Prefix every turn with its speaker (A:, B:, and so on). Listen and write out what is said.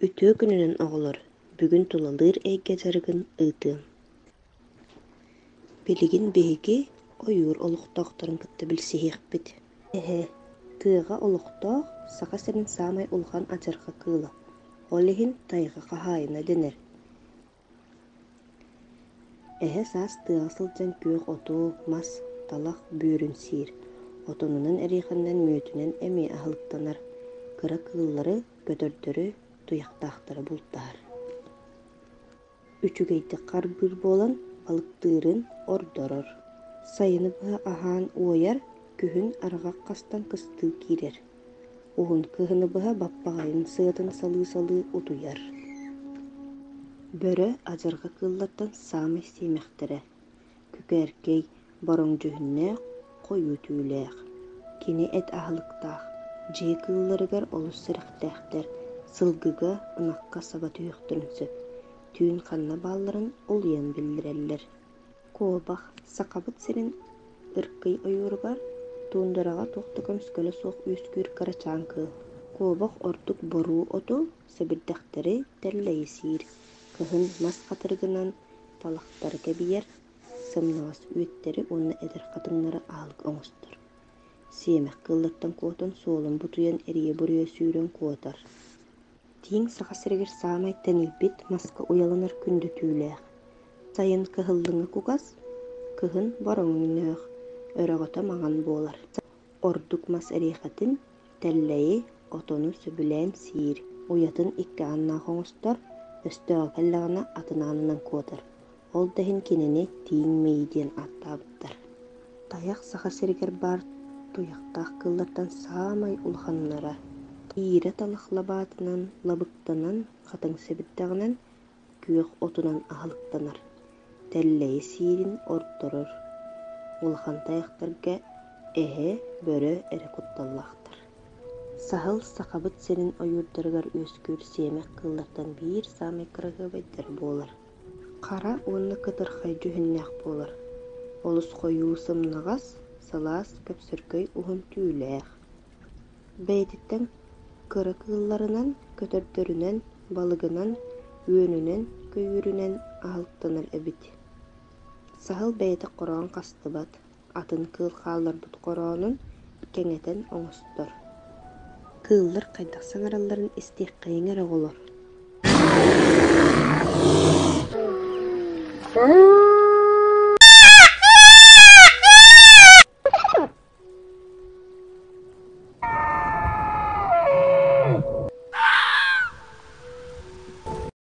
A: Үтүө күнүнэн, оҕолор! Бүгүн тулалыыр эйгэ дьарыгын ыытыаҥ. Билигин биһиги ойуур олохтоохторун кытта билсиһиэхпит. Эһэ кыаҕа олохтоох Саха сирин саамай улахан адьырҕа кыыла. Ол иһин тайҕа хаһаайына дэнэр. Эһэ саас тыаҕа сылдьан күөх отук, мас, талах, бүөрүн сиир, отонунан эриэхэннэн мүөтүнэн эмиэ аһылыктанар, кыра кыыллары, көтөрдөрү, туйахтаахтары бултаһар. Үчүгэйдик харбыыр буолан балыктыырын ордорор, сайыны быһа аһаан уойар, күһүн арҕах хастан кыстыы киирэр. Уһун кыһыны быһа баппаҕайым сыатын салыы-салыы утуйар, бөрө адьырҕа кыыллартан саамай сиэмэхтэрэ, күкээркэй, бороҥдьүһүннээх, хойуу түүлээх, кини эт аһылыктаах, дьиэ кыылларыгар олус сэрэхтээхтэр, сылгыга, ынахха саба түһүөхтэрин сөп, түүн ханна баалларын улуйан биллэрэллэр куобах Сахабыт сирин ыркый ойууругар, туундараҕа туох да көмүскэлэ суох үөскүүр кырачаан кыыл, куобах ордук боруу оту, сэбирдэхтэри тэллэйисиир, кыһын мас хатырыгынан талахтары кэбиьэр, сымнаҕас үүттэри уонна эдэр хатыҥнары аһылык оҥостор. Сиэмэх кыыллартан куотан суолун бутуйан эрийэ буруйа сүүрэн куотар Тииҥ Саха сиригэр саамай тэнийбит маска уйаланар күндү түүлээх. Сайын кыһыллыҥа кугас, кыһын бороҥноох, өрөҕөтө маҥан буолар. Ордук мас эриэхэтин, тэллэйи, отону сөбүлээн сиир, уйатын икки ааннаах оҥостор, өстөөҕү кэллэҕинэ атын аанынан куотар. Ол да иһин кинини Тииҥ Мэйи диэн ааттаабыттар. Тайах Саха сиригэр баар туйахтаах кыыллартан саамай улаханнара тиирэ талах лабаатынан лабыктанан хатыҥ сэбирдэҕинэн, күөх отунан аһылыктанар, тэллэйи сиирин ордорор. Улахан тайахтарга эһэ, бөрө эрэ кутталлаахтар. Саһыл Сахабыт сирин ойуурдаругар үөскүүр сиэмэх кыыллартан биир саамай кыраһыабайдара буолар. хара уонна кытырхай дьүһүннээх буолар олус хойуу сымнаҕас сылаас көпсөргөй уһун түүлээх бэйэтиттэн кыра кыылларынан көтөрдөрүнэн балыгынан үөнүнэн көйүүрүнэн аһылтынар эбит саһыл бэйэтэ хороон хастыбат атын кыыл хаалларбыт хороонун кэҥэтэн оҥостор кыыллар хайдах саҥаралларын истиэххэйиҥ эрэ оҕолор